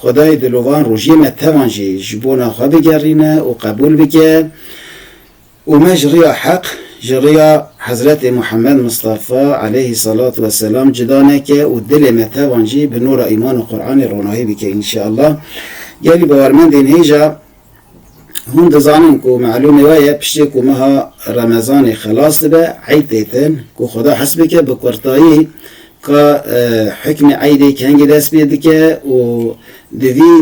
Xwedayê dilovan rojiyê me tevan jî ji bona xwe bigerîne û qebûl bike û me ji riya heq, ji riya Hezretê Muhammed Mistafa aleyhî selat we selam cida neke û dilê me tevan jî bi nûra îman û Quranê ronahî bike înşeallah. Gelî bawermendên hêja. Hûn dizanin ku malûmê we ye piştî ku meha Remezanê xelas dibe eyd tê din, ku Xweda hes bike bi kurtayî ka hukmê eydê kengî dest pê dike û di vî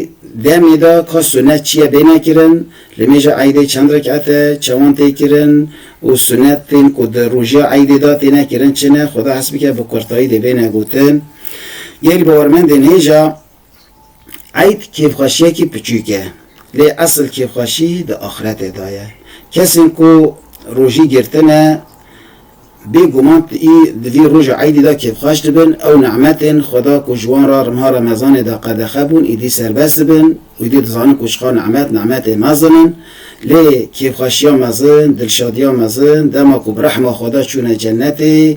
demê de ka sunet çi ye bêne kirin, li mêja eydê çend rek'et e, çawan tê kirin û sunetên ku di rojiya eydê de têne kirin çi ne, Xweda hes bike bi kurtayî dê bêne gotin. Gelî bawermendên hêja. Eyd kêfxweşiyekî piçûk e, lê esil kêfxweşî di axretê de ye. Kesên ku rojî girtine bêguman di vî roja eydî de kêfxweş dibin, ew nimetên Xweda ku ji wan re riha remezanê de qedexe bûn îdî serbest dibin û îdî dizanin ku çiqas nimet, nimetê mezin in. Lê kêfxweşiya mezin, dilşadiya mezin dema ku bi rehma Xweda çûne cenetê,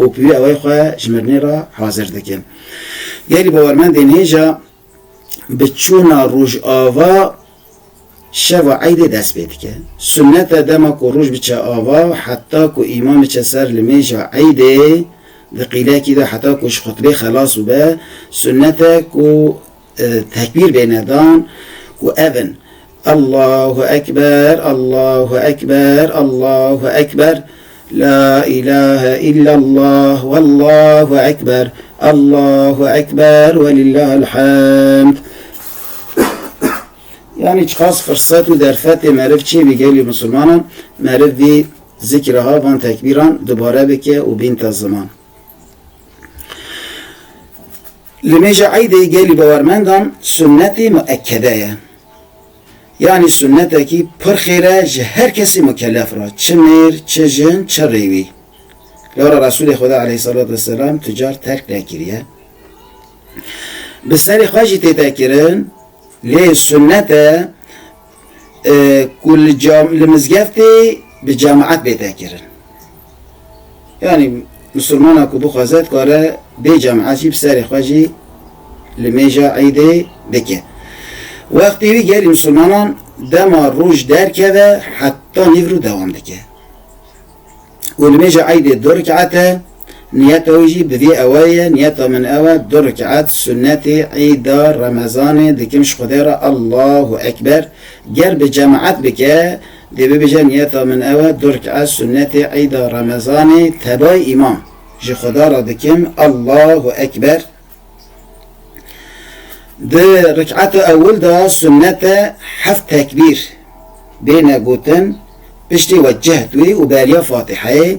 û bi wî awayî xwe ji mirinê re hazir dikin. Gelî bawermendên hêja bi çûna rojava şeva eydê dest pê dike. Sunnet e dema ku roj biçe ava heta ku îmam biçe ser li mêja eydê di qîlekî de heta ku ji xutbê xelas bibe, sunnet e ku Tekbîr bêne dan û ev in, Allahu ekber, Allahu ekber, Allahu ekber, La îlahe îllallah, Wallahu ekber, Allahu ekber, Welillahil hamd. Yanî çiqas firsat û derfetê meriv çê bî gelê misilmanan, meriv vî zikra van tekbîran dubare bike û bînte ziman. Li mêja eydê gelî bawermendan sunnetê muekede ye. Yanî sunnetekî pir xêr e ji her kesî mukelef re, çi mêr, çi jin, çi rêwî. Lewra Resûlê Xweda aleyhîssalatu wesselam tu car terk nekiriye. Bi serê xwe jî têtekirin lê sunnet e, ku li cam li mizgeftê bi cemaet bête kirin. Yanî misilmana ku bixwaze dikare bê cemaet jî bi serê xwe jî li mêja îdê bike. Wextê wî gelê misilmanan dema roj derkeve heta nîvro dewam dike. û nimêja eydê du rik'et e, niyeta wî jî bi vî ewayî ye, niyeta min ew e, du rik'et sunnetê eyda remezanê dikim ji Xwedê re, Allahu ekber, ger bi cemaet bike dê bibêje niyeta min ew e, du rik'et sunnetê eyda remezanê tebayî îmam ji Xweda re dikim, Allahu ekber. Di rikata ewil de sunnet e heft tekbîr bêne gotin piştî we cehd wî û beriya Fatîheyê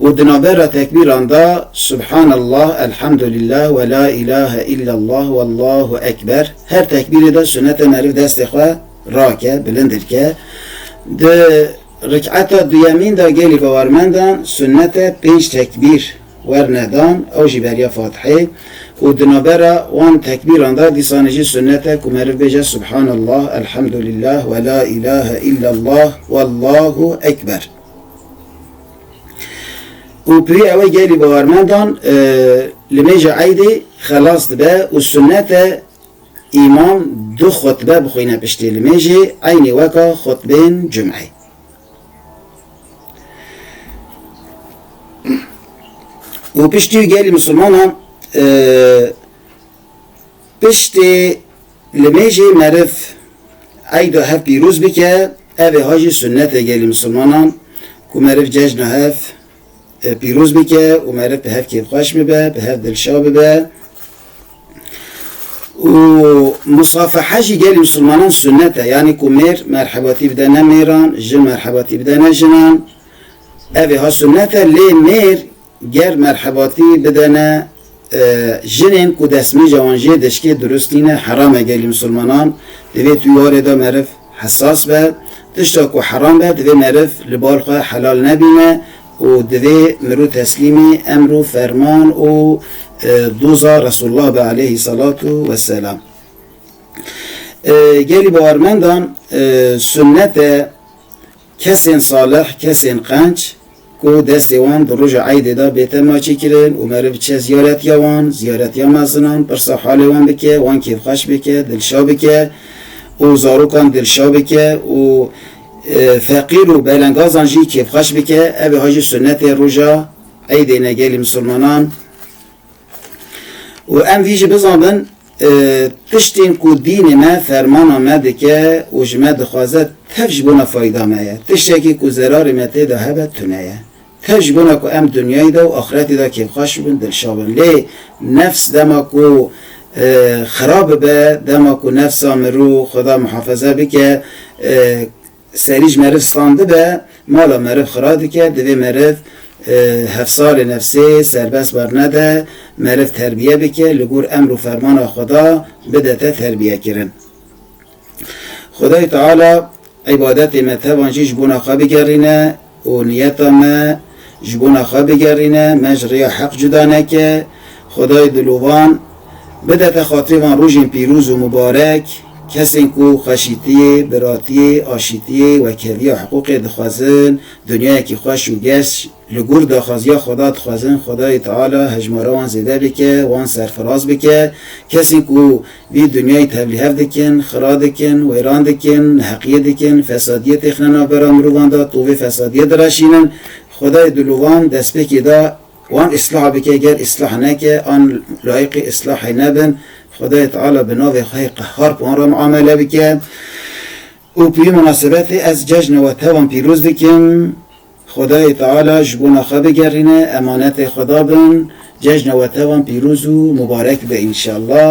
û di navbera tekbîran de Subhanallah, Elhamdulillah we la îlahe îllallah wallahu ekber her tekbîrê de sunnet e meriv destê xwe rake, bilindir ke. Di rikata duyemîn de gelê bawermendan sunnet e pênc tekbîr werne dan ew jî beriya Fatihê û di navbera wan tekbîran de dîsanê jî sunnet e ku meriv bêje Subhanallah, Elhamdulillah we la îlahe îllallah wallahu ekber. Û pirî ew e gelî bawermendan li mêja eydê xelas dibe û sunnet e îmam du xutbe bixwîne piştî li mêjê eynî weka xutbên cumeyê. û piştî wî gelê misilmanan e, piştê li mêjê meriv eyda hev pîroz bike, ev ê ha jî sunnetê gelê misilmanan ku meriv cejna hev Pîroz bike û meriv bi hev kêfxweş bibe, bi hev dilşa bibe û musafeha jî gelê misilmanan sunet e. Yanî ku mêr merhebatî bide ne mêran, jin merhebatî bide ne jinan. Evê ha sunet e lê mêr ger merhebatî bide ne Jinên ku destmîja wan jê deşkê dirust tîne heram e gelê misilmanan di vê tîwarê de meriv hesas be. Tişta ku heram be divê meriv li bal xwe helal nebîne û divê mirû teslîmê emr û ferman û doza Resulullah be aleyhî selatu weselam. Gelê bawermendan sunnet e, Kesên salih, kesên qenc ku destê wan di roja eydê de bê tema çêkirin û meriv biçe ziyaretiya wan, ziyaretiya mezinan, pirsa halê wan bike, wan kêfxweş bike, dilşa bike û zarokan dilşa bike û feqîr û belengazan jî kêfxweş bike, ev ê ha jî sunnetê roja eydê ne gelê misilmanan. Û em vî jî bizanbin, tiştên ku dînê me fermana me dike û ji me dixwaze tev ji bona fayda me ye, tiştekî ku zerarê me tê de hebe tune ye. Tev ji bona ku em dinyayê de û axretê de kêfxweş bibin, dilşa bin. Lê nefs dema ku xirab bibe, dema ku nefsa mirov, Xweda muhafeze bike, Serî ji meriv stan dibe, mala meriv xira dike, divê meriv hevsarê nefsê serbest bernede, meriv terbiye bike, li gor emr û fermana Xweda bide te terbiyekirin. Xwedayê Teala îbadetê me tevan jî ji bona xwe bigerîne. û niyeta me ji bona xwe bigerîne, me ji rêya heq cuda neke, Xwedayê Dilûvan bidete xatirê van rojên pîrûz û mibarek, kesên ku xweşîtiyê, biratiyê, aşîtiyê, wekhevîya hiqûqê dixwezin, dinyayekî xweş û geş li gor daxwaziya Xweda dixwezin, Xwedayê Teala hejmara wan zêde bike, wan serfiraz bike, kesên ku Vî dinyayî tevlîhev dikin, xira dikin, wêran dikin, neheqiyê dikin, fesadiyê têxine navbera mirovan de, tovê fesadiyê diraşînin. Xwedayê dilovan destpêkê da wan îslah bike, ger îslah neke, an layiqê îslahê nebin, Xwedayê Teala bi navê xwe yê Qehhar bi wan re miamele bike. Û bi vî minasebetê ez cejna we te wan pîroz dikim. Xwedayê Teala ji bona xwe bigerîne, emanetê xwe dabin, cejna we te wan pîroz û mubarek be înşallah.